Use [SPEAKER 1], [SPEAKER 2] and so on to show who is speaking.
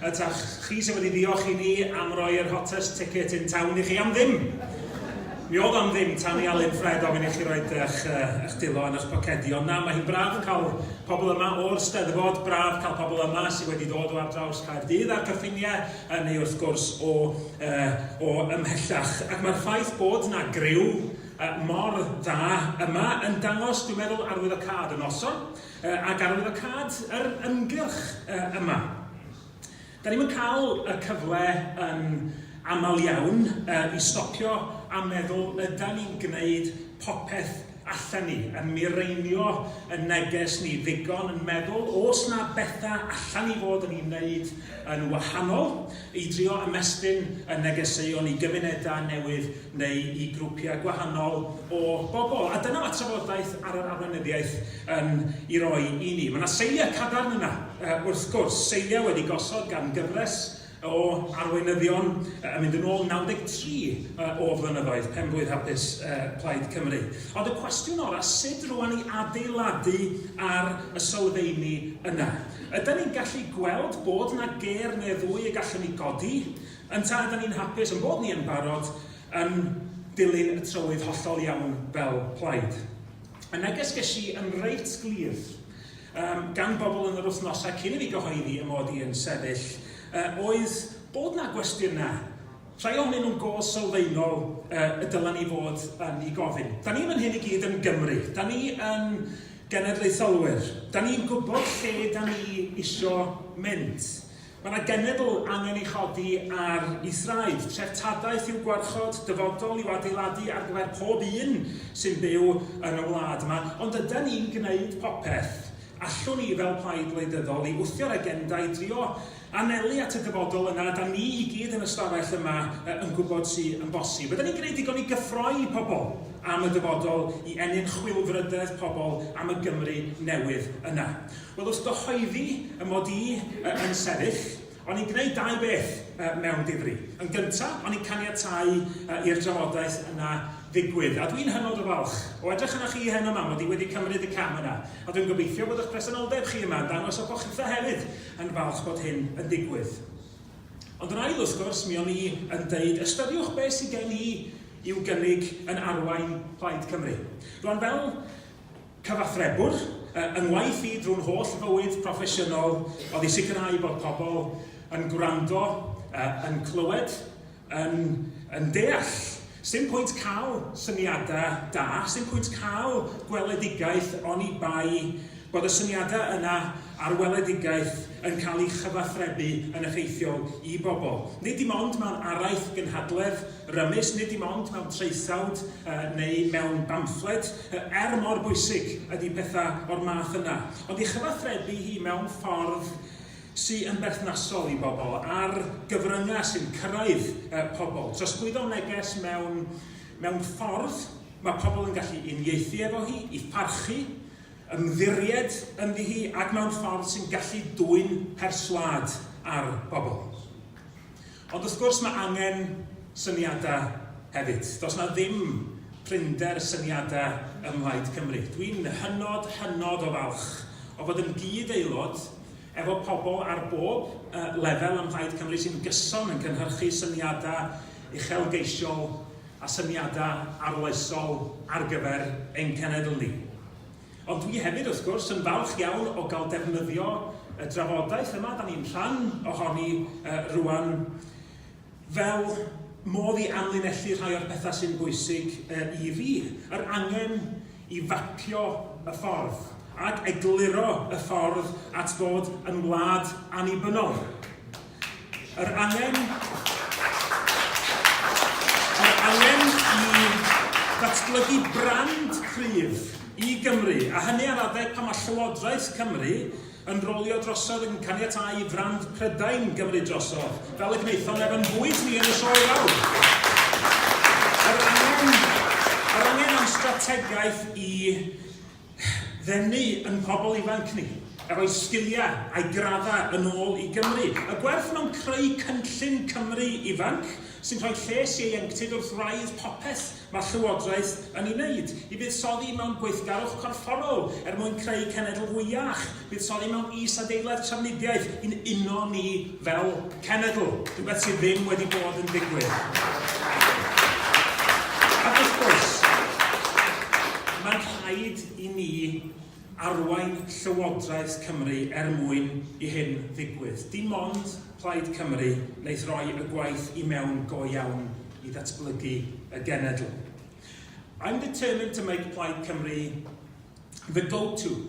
[SPEAKER 1] Ydach chi sydd wedi ddiolch i ni am roi yr hottest ticket in town i chi am ddim? Mi oedd am ddim tan i Alun Ffred ofyn i chi roi eich, eich dilo yn eich pocedi. Ond na, mae hi'n braf cael pobl yma o'r Steddfod, braf cael pobl yma sydd wedi dod o ar draws Caerdydd a'r cyffiniau, neu wrth gwrs o, uh, o ymhellach. Ac mae'r ffaith bod na griw uh, mor dda yma yn dangos, dwi'n meddwl, arwyddocâd y noson. a gafodd y cad yr ymgyrch yma. Da ni'm yn cael y cyfle yn aml iawn i stopio a meddwl ydan ni'n gwneud popeth allen ni, yn mireinio yn neges ni ddigon, yn meddwl oes na bethau allen ni fod yn ei wneud yn wahanol, I drio ymestyn y negeseuon i gymunedau newydd neu i grwpiau gwahanol o bobl. A dyna mae trafodaeth ar yr arweinyddiaeth yn ei roi i ni. Mae yna seiliau cadarn yna, wrth gwrs, seiliau wedi gosod gan gyfres o arweinyddion yn mynd yn ôl 93 o flynyddoedd, penblwydd hapus Plaid Cymru. Ond y cwestiwn orau, sut rwan i adeiladu ar y sylfeini yna? Ydan ni'n gallu gweld bod 'na gêr neu ddwy y gallwn ni godi? Yntau ydan ni'n hapus ein bod ni yn barod yn dilyn y trywydd hollol iawn fel plaid? Y neges ges i yn reit glir yym gan bobl yn yr wythnosau cyn i fi gyhoeddi 'y mod i yn sefyll yy oedd bod 'na gwestiynau Rhai ohonyn nhw'n go sylfaenol y dylen ni fod yn eu gofyn. Da ni fan hyn i gyd yn Gymry, da ni yn genedlaetholwyr, da ni'n gwybod lle da ni isio mynd. Mae yna genedl angen ei chodi ar ei thraed, treftadaeth i'w gwarchod, dyfodol i'w adeiladu ar gyfer pob un sy'n byw yn y wlad yma, ond ydan ni'n gwneud popeth allwn ni fel plaid wleidyddol i wthio'r agenda, i drio anelu at y dyfodol yna ydan ni i gyd yn y stafell yma yn gwybod sy yn bosib. Ydan ni'n gwneud digon i gyffroi i pobl am y dyfodol, i ennyn chwilfrydedd pobl am y Gymru newydd yna? Wel, wrth gyhoeddi y mod i yn sefyll, o'n i'n gwneud dau beth mewn difri. Yn gyntaf, o'n i'n caniatáu i'r drafodaeth yna ddigwydd, a dwi'n hynod o falch o edrych arnoch chi heno 'ma, mod i wedi cymryd y cam yna, a dwi'n gobeithio bod eich presenoldeb chi yma yn dangos y bo chitha hefyd, yn falch bod hyn yn digwydd. Ond yr ail wrth gwrs, mi o'n i yn deud, ystyriwch beth sydd gen i i'w gynnig yn arwain Plaid Cymru. Rwan fel cyfathrebwr, yng ngwaith i drwy'n holl fywyd proffesiynol oedd i sicrhau bod pobl yn gwrando, yn clywed, Yn yn deall. Sdim pwynt cael syniadau da, sdim pwynt cael gweledigaeth oni bai bod y syniadau yna a'r weledigaeth yn cael eu chyfathrebu yn effeithiol i bobl. Nid dim ond mewn araith gynhadledd rymus, nid dim ond mewn traethawd neu mewn bamffled, er mor bwysig ydy pethau o'r math yna, ond ei chyfathrebu hi mewn ffordd sy yn berthnasol i bobl a'r gyfryngau sy'n cyrraedd uh, pobl. Trosglwyddo neges mewn, mewn ffordd mae pobl yn gallu uniaethu efo hi, i pharchu, ymddiried ynddi hi ac mewn ffordd sy'n gallu dwyn perswad ar bobl. Ond wrth gwrs mae angen syniadau hefyd. Does na ddim prinder syniadau ym Mhlaid Cymru. Dwi'n hynod, hynod o falch o fod yn gyd-aelod efo pobl ar bob lefel ym Mhlaid Cymru sy'n gyson yn cynhyrchu syniadau uchelgeisiol a syniadau arloesol ar gyfer ein cenedl ni. Ond dwi hefyd, wrth gwrs, yn falch iawn o gael defnyddio y drafodaeth yma da ni'n rhan ohoni rŵan fel modd i amlinellu rhai o'r pethau sy'n bwysig i fi, yr angen i fapio y ffordd ac egluro y ffordd at fod yn wlad annibynnol. Yr angen, yr angen i ddatblygu brand cryf i Gymru, a hynny ar adeg pan mae Llywodraeth Cymru yn rolio drosodd yn caniatáu i frand Prydain gymryd drosodd, fel y gwnaethon ef yn bwys ni yn y sioe fawr. Yr angen, yr angen am strategaeth i ddenu yn pobl ifanc ni, a rhoi sgiliau a'u graddau yn ôl i Gymru. Y gwerth mewn creu cynllun Cymru ifanc sy'n rhoi lles ieuenctid wrth wraidd popeth mae'r Llywodraeth yn ei wneud, i fuddsoddi mewn gweithgarwch corfforol er mwyn creu cenedl fwy iach, Buddsoddi mewn is-adeilad trafnidiaeth i'n uno ni fel cenedl, rhywbeth sydd ddim wedi bod yn digwydd. Ac wrth gwrs, mae'n rhaid i ni arwain Llywodraeth Cymru er mwyn i hyn ddigwydd. Dim ond Plaid Cymru wneith roi y gwaith i mewn go iawn i ddatblygu y genedl. I'm determined to make Plaid Cymru the go-to